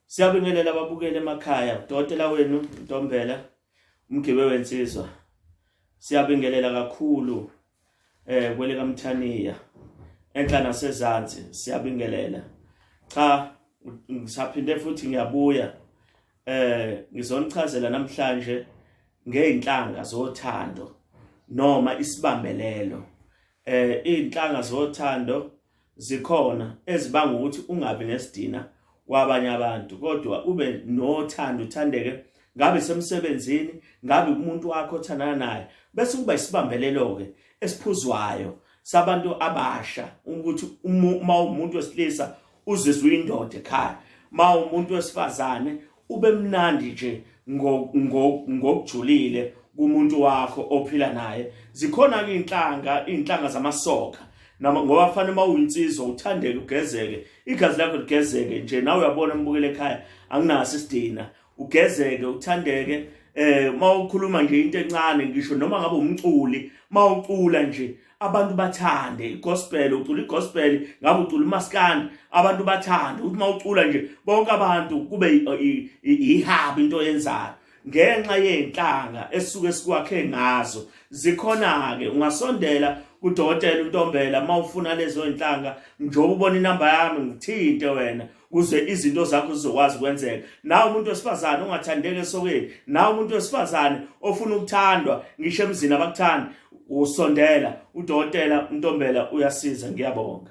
Siyabingelela ababukeli emakhaya, udokotela wenu Ntombela umgibe wensizwa. Siyabingelela kakhulu eh kwele kaMthaniya enhla nasezansi siyabingelela. Cha ngisaphinde futhi ngiyabuya eh ngizonichazela namhlanje ngeinhlanga zothando noma isibambelelo eh izinhlanga zothando zikhona ezibanga ukuthi ungabi nesidina kwabanye abantu kodwa ube nothando uthandeke ngabe semsebenzini ngabe umuntu wakho othandana naye bese kuba isibambelelo ke esiphuzwayo sabantu abasha ukuthi uma umuntu wesilisa uzizwa indoda ekhaya uma umuntu wesifazane ubemnandi nje ngokujulile kumuntu wakho ophila naye zikhona ke inhlanga inhlanga zamasoka noma ngoba fanele uma uyinsizwa uthandeke ugezeke igazi lakho ligezeke nje nawe uyabona umbukele ekhaya anginaso isidina ugezeke uthandeke eh uma ukhuluma nje into encane ngisho noma ngabe umculi uma ucula nje abantu bathande igospel ucula igospel ngabe ucula umaskandi abantu bathande ukuthi mawucula nje bonke abantu kube ihaba into yenzayo ngenxa yenhlanga esuke sikwakhe ngazo zikhona ke ungasondela kudokotela uNtombela mawufuna lezo inhlanga njengoba ubona inamba yami ngithinte wena kuze izinto zakho zizokwazi ukwenzeka nawe umuntu wesifazane ongathandeki esokeni nawe umuntu wesifazane ofuna ukuthandwa ngisho emzini abakuthandi usondela udokotela untombela uyasiza ngiyabonga